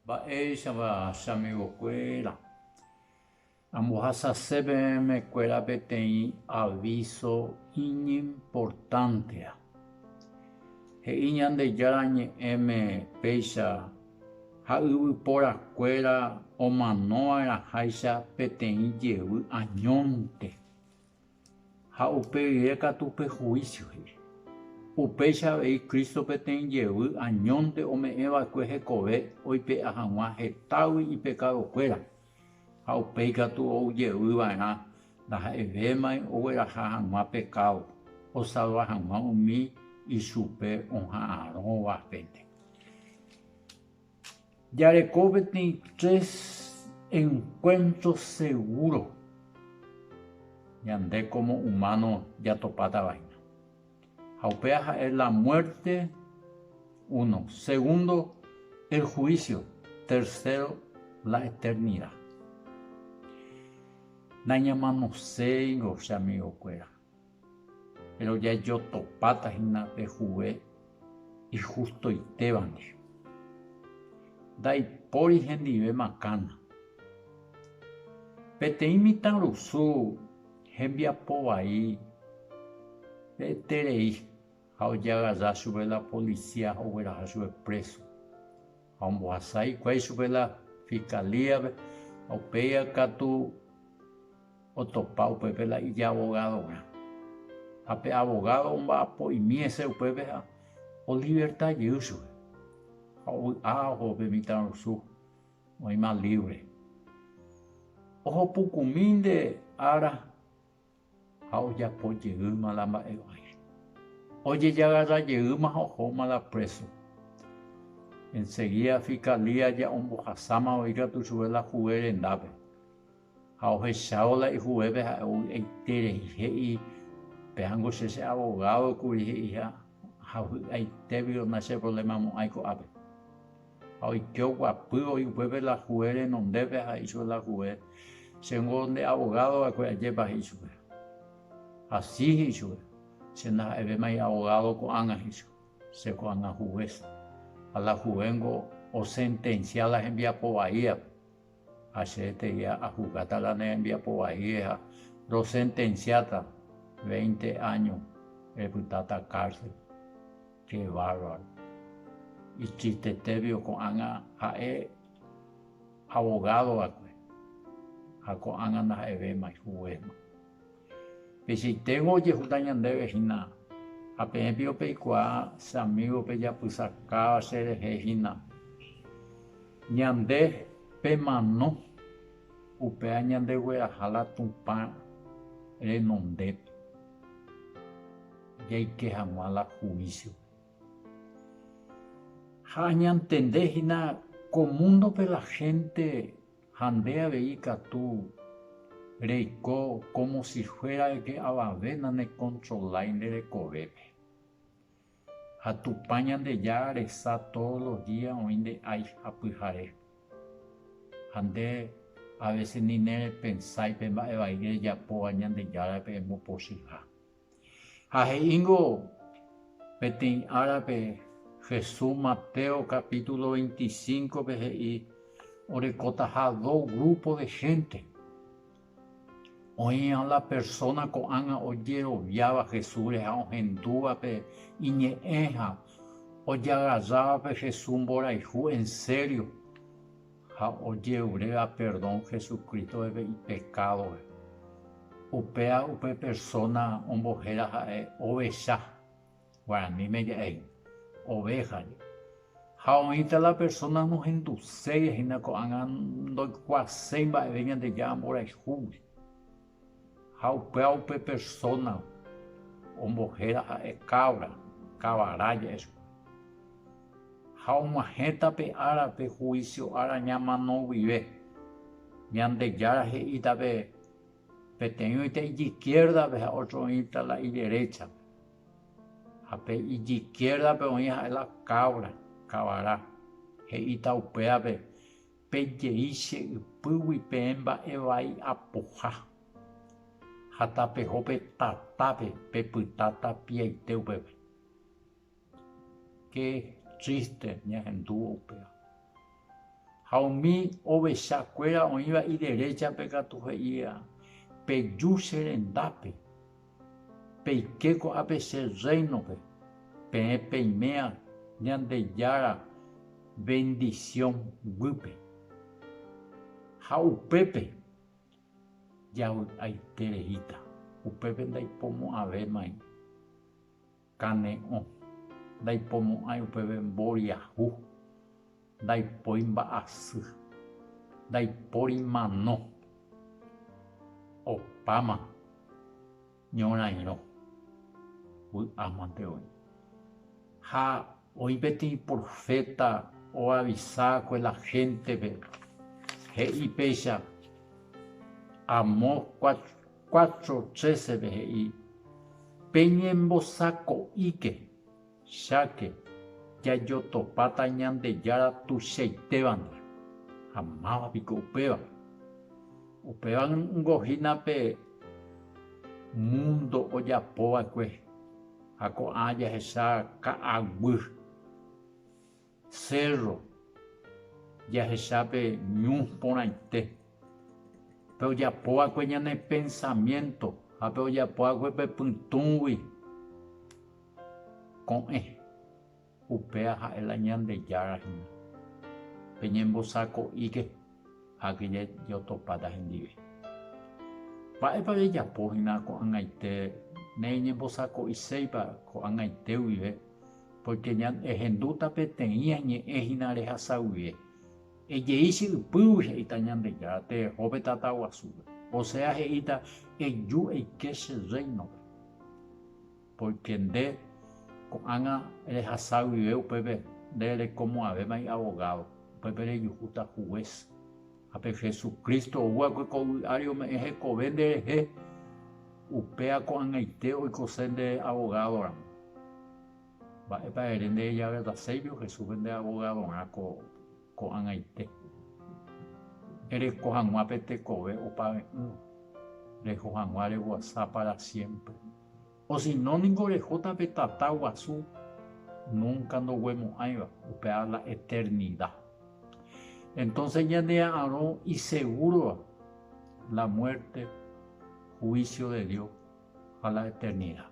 Mba'éichapa che amigokuéra ambohasase pe memekuéra peteĩ avíso iñimportántea? He'i Ñandejára Ñe'ẽme péicha ha yvyporakuéra omanova'erãháicha peteĩ jevy añónte. ha upe rire katu pe huísio he'i. Upéicha avei Cristo peteĩ jevy añónte ome'ẽ va'ekue hekove oipe'a hag̃ua hetágui ipekadokuéra, ha upéi katu ou jevy va'erã ndaha'evémai ogueraha hag̃ua pekádo, osalva hag̃ua umi ichupe oha'arõva hénte. Jareko peteĩ tres encuentro seguro ñande como humano jatopátavahína. Ha upéva ha'e la muerte uno, segundo el juicio, tercero la eternidad. Nañamanoséingo che amigokuéra. Péro jajotopáta hína pe juve ihustoitéva ndive. Ndaipóri hendive makãna. Peteĩ mitãrusu hembiapo vai reterei ha ojagaja chupe la polisía ogueraha chupe préso. Ha ombohasa hikuái chupe la fiscalía-pe, ha upéi katu otopa upépe la ijabogadorã. Ha pe abogado omba'apo'imi hese upépe ha oliverta jey chupe, ha ovy'a oho pe mitãrusu oĩma libre. Oho pukumi nde ára ha ojapo jeýma la mba'eguasu. Ojejagarra jeýma ha ohóma la préso. Ensegída fikalía ja ombohasámava ikatu chupe la juve rendápe, ha ohechávo la ijuvépe ha'e ovy'aite rei, he'i, Péango che che abogádo kuri, he'i, ha vy'aitégui onacheprolemamo'ãi ko'ápe. Ha oike oguapy oĩ upépe la juez renondépe ha he'i chupe la juez, Chéngo nde abogado va'ekue ajépa? he'i chupe. Hasy he'i chupe, Che ndaha'evémai abogado ko'ág̃a, he'i chupe, che ko'ág̃a juez. Ha la juez-ngo osentensia la hembiapo vaíape. Ha che etegia ajugáta la ne rembiapo vaíre ha rosentensiáta veinte áño repytáta cárcel. Che bárbaro. Itristetévio ko'ág̃a ha'e abogado va'ekue ha ko'ág̃a ndaha'evéma ijuguésma. Peichaiténgo ojehuta ñandéve hína, ha peẽ piko peikuaa che amígo pejapysakáva cherehe hína. Ñande pemano, upéva ñandegueraha la Tupã renondépe, jaike hag̃ua la huísiope. Ha añantende hína ko múndope la hénte, Ha nde avei katu reiko kómo si fuéra eke avave nanekontrolái nde rekovépe. Ha Tupã Ñandejára resa tódo los día oĩ nde ái ha pyhare. Ha nde avese ni nerepensái pe mba'e vai rejapóva Ñandejárape embopochýha. Ha he'íngo peteĩ árape Jesús Mateo capítulo veinticinco-pe he'i orekotaha do grupo de hénte. Oĩva la persóna ko'ág̃a ojeroviáva Jesúsre ha ohendúvape iñe'ẽ ha ojagarrávape Jesús mborayhu ensério. ha ojeruréva perdón Jesucristo-pe ipecádope, upéva upe persóna ombohéra ha'e ovecha, guaraníme ja'éi, ovéjaje. Ha oĩta la persóna nohenduséi, ha'éna ko'ág̃a ndoikuaaséi mba'eve Ñandejára mborayhúgui. Ha upéva upe persóna ombohéra ha'e kávra, kavarája, esp. Ha og̃uahẽta pe ára pe huísio ára ñamano guive. Ñandejára he'íta pe peteĩ oĩta ijikiérdape ha ótro oĩta la ideréchape. Ha pe ijikiérdape oĩ ha'e la kávra, kavara, he'íta upévape Pe jey che ypýgui peẽ mba'e vai apoha, ha tapeho pe tatápe pe pyta tapiaite upépe. Qué triste ñahendúvo upéva. Ha umi ovecha kuéra oĩva ideréchape katu he'íva, Peju che rendápe. Peike ko'ápe che Rréinope, peẽ peiméa Ñandejára vendisión guýpe. Ha upépe javy'aiterehíta, upépe ndaipomo'ãvémai. Kane'õ. Ndaipomo'ãi upeve mboriahu. Ndaipói mba'asy. Ndaipóri mano. Opáma ñorairõ. Vy'ámante oĩ. Ha oĩ peteĩ proféta oavisa va'ekue la héntepe, he'i péicha, Amós Cuatro trece-pe he'i, Peñembosako'íke, cháke, jajotopáta Ñandejára tuichaitévandi. Ha máva piko upéva? Upéva ningo hína pe múndo ojapova'ekue ha ko'ã jahecha ka'aguy. Sérro jahechápe ñu porãite. Pe ojapóva'ekue ñane pensamiénto ha pe ojapóva'ekue pe pytũgui ko'ẽ, upéva ha'e la Ñandejára hína. Peñembosako'íke. ha kyre jotopáta hendive. Mba'épa rejapo hína ko'ag̃aite nereñembosako'iséipa ko'ag̃aite guive, pórke ehendúta peteĩ añe'ẽ hína rehasa guive. Ejei che ypýgui he'íta Ñandejára tereho pe tata guasúpe. Osea he'íta, Eju eike che rréinope. Pórke nde ko'ág̃a rehasa guive upépe nde rekomo'ãvéma iabogádo, upépe rejuhúta hugués. Ha pe Hesu Crísto ou va'ekue ko yvy ári ome'ẽ hekove nderehe, upéva ko'ag̃aite oikose nde abogádoramo. Mba'épa ere nde ejavetaséijo Jesúspe nde abogadorã ko'ag̃aite? Ereko hag̃ua pe tekove opave'ỹva, reho hag̃ua reguasa pára siémpre. Osino ningo orehóta pe tata guasu nunka ndoguemo'ãiva, upéva la eternida. Entonces ñandea'arõ isegúrova la muerte, juicio de Dios ha la eternida.